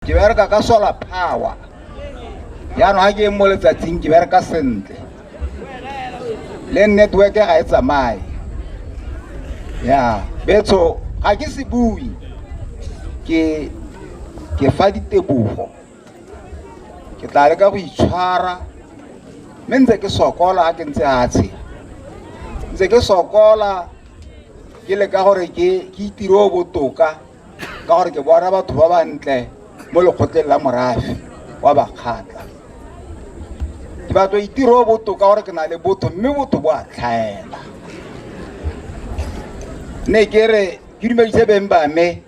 ke bereka ka solar power jaanong ga ke eng mo letsatsing ke bereka sentle le network ga e tsamaye ya betsho ga ke se bue ke ke fa ditebogo ke tla leka go itshwara mme ntse ke sokola ga ke ntse a tshela ntse ke sokola ke leka gore ke itire o botoka ka gore ke bona batho ba bantle mo lekgotleng la morafe wa bakgatla ke batlo itiro o botoka gore ke na le botho mme botho bo a tlhaela ne ke re ke dumedise beng ba me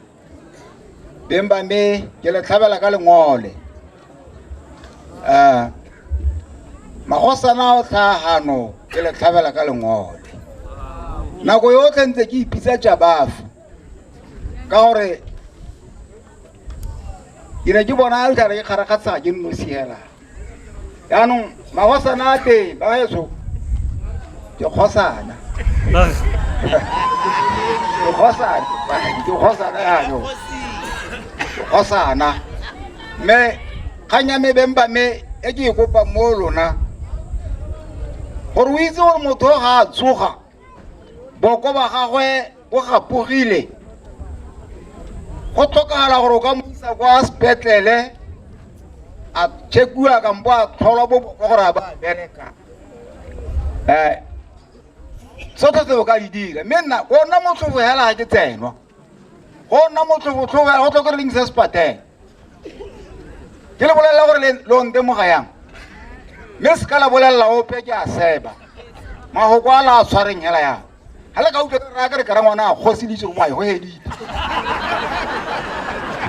beng ba me ke le tlhabela ka lengole um magosana o tlhagano ke le tlhabela ka lengole nako yotlhe ntse ke ipitsa jabafo ka gore ke ne ke bona le tare ke kgarakgatsa ke nnosi hela yaanong magosana a teng ba eso ke kgosana ke kgosana ke kgosana yano ke kgosana mme kgang ya mebeng ba me e ke e kopang mo lona gore o itse gore motho ga a tsoga boko ba gagwe bo gapogile go tlhokagala gore o ka mo isa kwa sepetlele a chekiwa kampo a tlholwa bo boko gore a ba a bereka um tsotlhe tse o ka di dira mme nna ona motlhofo fela ga ke tsenwa go nna motlhobotlhobo ya go tlhoka reng se se pateng ke le bolelela gore le- lo ntemoga yang mme se ka la bolelela ope ke a seba magoko a la a tshwareng hela yang ga le ka utlwa re akere kara ngwana a kgoseditse go maye go hedite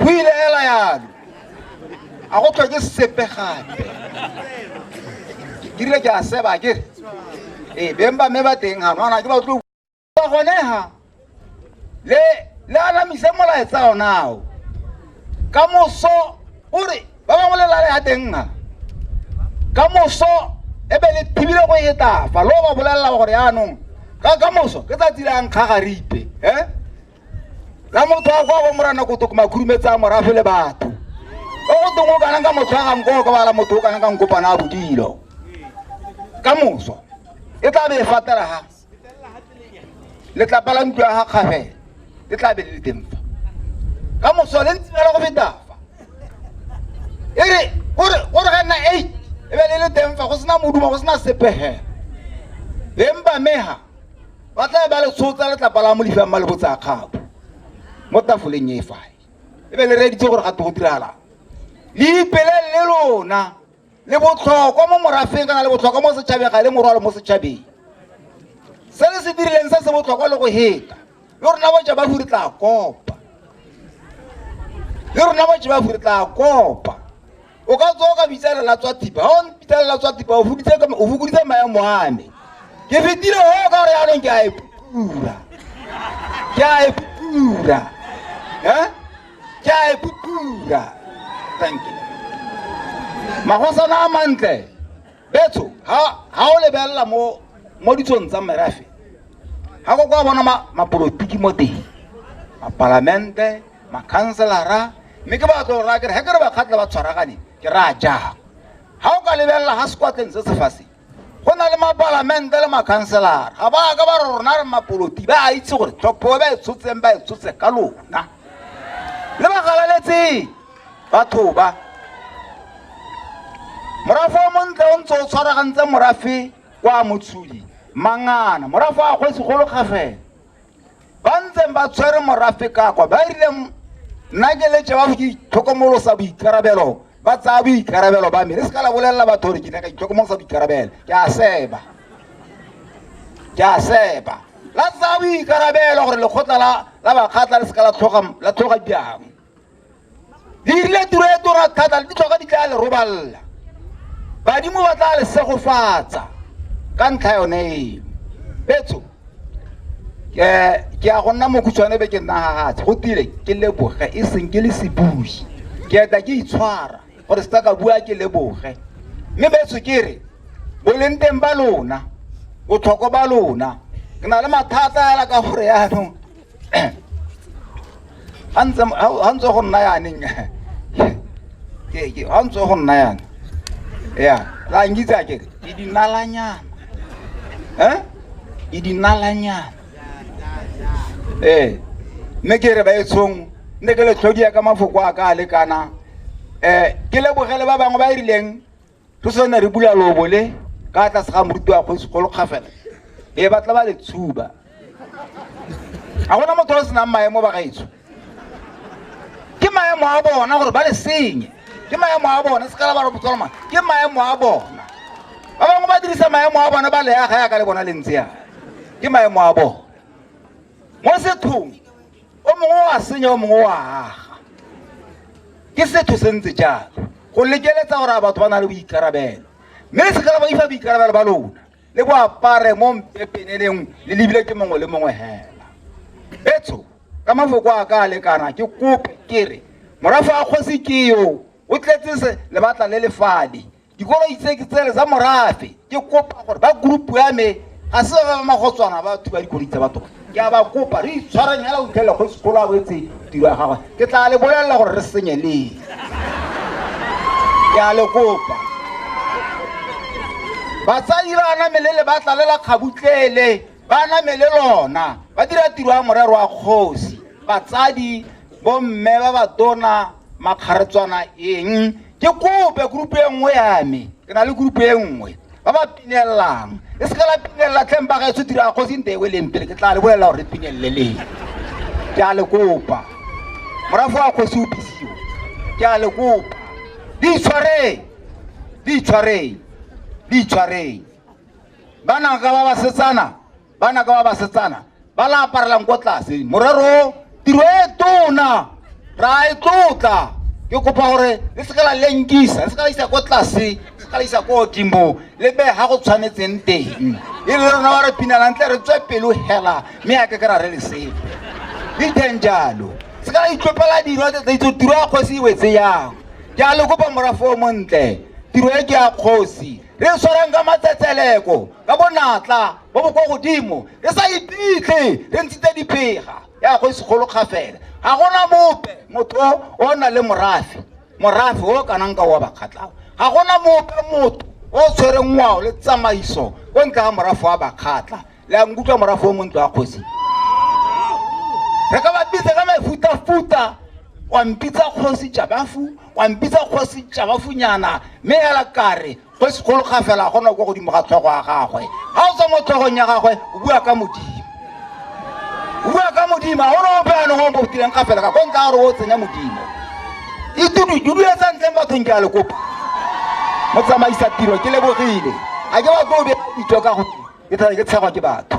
go ile hela yalo a go tlhoke sepe gape ke rile ke a seba kere ee beng ba mme ba teng gano ana ke ba tlo ba goneha le le anamise molaetsa onao ka moso o re ba bangwe le lale ya teng ha ka moso e be le thibile go etafa lo ba bolelela gore yaanong ka ka moso ke tsatsi la nkga ga ripe e la motho wa kwa bo morana kotoko makhurumetsang morafe le batho o go tong o kanang ka motshwagang ko ka bala motho o kanang ka nkopana a bodilo ka moso e tla be e fatela ga letlapa la ntlo ya ga kgabele le tla be le le teng fa ka moso le ntse fela go feta fa e re gore gore ga nna eight e be le le teng fa go sena moduma go sena sepegela beng ba mega ba tla ba le tshotsa letlapa la molifang ba le botsa kgapo mo tafoleng e fae e be le reditse gore ga te go diragalang le ipele le lona le botlhokwa mo morafeng kana le botlhokwa mo setšhabeng ga le morwalo mo setšhabeng se le se dirileng se se botlhokwa le go heta le rona boja ba furi tla kopa le rona boja ba furi tla kopa o ka tswa o ka bitsalela tswa thipa ga o mpitsalela tswa thipa o fokoditse maemo a me ke fetile o ka gore yanong ke a e pura ke a e pura um Jai Pupura. Thank you. Magosana a mantle. Betso, ha ha o lebelela mo mo ditsong tsa merafe. Ha go kwa bona ma mapolotiki mo teng. Mapalamente, makhanselara, mme ke ba tlo ra ke re ha ke re ba khatla ba tshwaragane, ke ra ja. Ha o ka lebelela ha sekwatleng se se fase. go na le mapalamente le makhanselara ga ba ka ba re rona re mapoloti ba a itse gore thopo ba e tshotseng ba e tshotse ka lona le ba galaletseng batho ba morafe o montle o ntse o tshwaragantse morafe kwa motshodi mangana morafe a kgwesi golo kgafela ba ntseng ba tshwere morafe kakwa ba rile nna ke letse ba go itlhokomolosa boikarabelo ba tsaya boikarabelo ba me re se ka la bolelela batho gore ke ne ka itlhokomolosa boikarabelo ke a seba ke a seba la tsaya boikarabelo gore lekgotla la bakgatla le se ka la tlhoga diang le dirile tiro e tona thata le ditlhoka di tla le robalela badimo ba tla le segofatsa ka ntlha yone eo betso ke ke a go nna mokhutshwane be ke nna gagatse go tile ke leboge e seng ke le sebui ke eta ke itshwara gore se ka bua ke leboge mme betso ke re boleng teng ba lona botlhoko ba lona ke na le mathata fela ka gore yaanong ga ntse ga ntse go nna yaneng ke ke ga ntse go nna yana ya la ngitsa ke ke dinalanyana eh ke dinalanyana eh mme ke re ba etshong ne ke le tlhodia ka mafoko a ka a lekana eh ke lebogele ba bangwe ba e rileng re sone re bula lobo le ka tlase ga moruti wa kgosi kgolo kgafela e batla ba le tshuba ga gona motho o senang maemo ba gaetsho ke maemo a bona gore ba le senye ke maemo a bona se kala ba re botswana mang ke maemo a bona ba bangwe ba dirisa maemo a bona ba leaga ya ka le bona le ntse yana ke maemo a bona mo sethong o mongwe wa senya o mongwe wa aga ke setho se ntse jalo go lekeletsa gore a batho ba na le boikarabelo mme le sekala ba ifa boikarabelo ba lona le bo apare mo mpepeneleng le lebile ke mongwe le mongwe hela etso ka mafoko a ka a lekana ke kope ke re morafa a kgosi ke yo o tletse se lebatla le lefadi Dikoloi tse ke tsele tsa morafe. Ke kopa gore ba group ya me ga se ba ba magotswana ba thuba dikoloi tsa batho. Ke a ba kopa re itshwareng hela o tlhela go sekolo a boetse tiro ya gagwe. Ke tla le bolelela gore re senye leng. Ke a le kopa. Batsadi ba namele le ba tlalela kgabutlele ba namele lona ba dira tiro ya morero wa kgosi. Batsadi bomme ba ba tona makgaretswana eng ke kope group e nngwe ya me ke na le group e nngwe ba ba pinelelang e se ka la pinelela tleng ba gaetso dira kgosi nte ewe leng pele ke tla le bolelela gore re pinelele leng ke a le kopa morago wa kgosi o bisiwa ke a le kopa di itshwareng di itshwareng di itshwareng ba naka ba ba setsana ba naka ba basetsana ba la aparelang ko tlase morero tiro e tona ra e tlotla ke kopa gore le seka la lenkisa le seka la isa ko tlase le seka la isa ko godimo le be ga go tshwanetseng teng e le rona ba re pinalang tle re tswe pelo hela mme ya ke ke ra re le sepe di teng jalo se ka itlopela dilo tsa itse tiro ya kgosi e wetse yang jalo kopa morafo o montle tiro e ke ya kgosi re e tshwarang ka matsetseleko ka bonatla bo bo kwa godimo re sa iphitlhe re ntshitse diphega ya go segolo kgafela ga gona mope motho o na le morafe morafe o kanang ka wa bakgatlao ga gona mope motho o tshwereng ngwao le tsamaiso ko ntle ga morafe wa bakgatla le a nkutlwa morago o montlo wa kgosi re ka bapisa ka mefutafuta wa mpitsa kgosi jabafu wa mpitsa kgosi jabafunyana mme ela kare kgosi kgolo ga fela gona kwa godimo ga tlhogo ya gagwe ga o tswa mo tlhogong ya gagwe o bua ka modimo o bua ka modimo ga gona ope anong o mo botileng ga fela ka ko nka gore o tsenya modimo e dudududuya sa ntleng bathong ke a le kopa mo tsamaisa tiro ke lebogile a ke ba tlo o bea ditso ka go ke tshegwa ke batho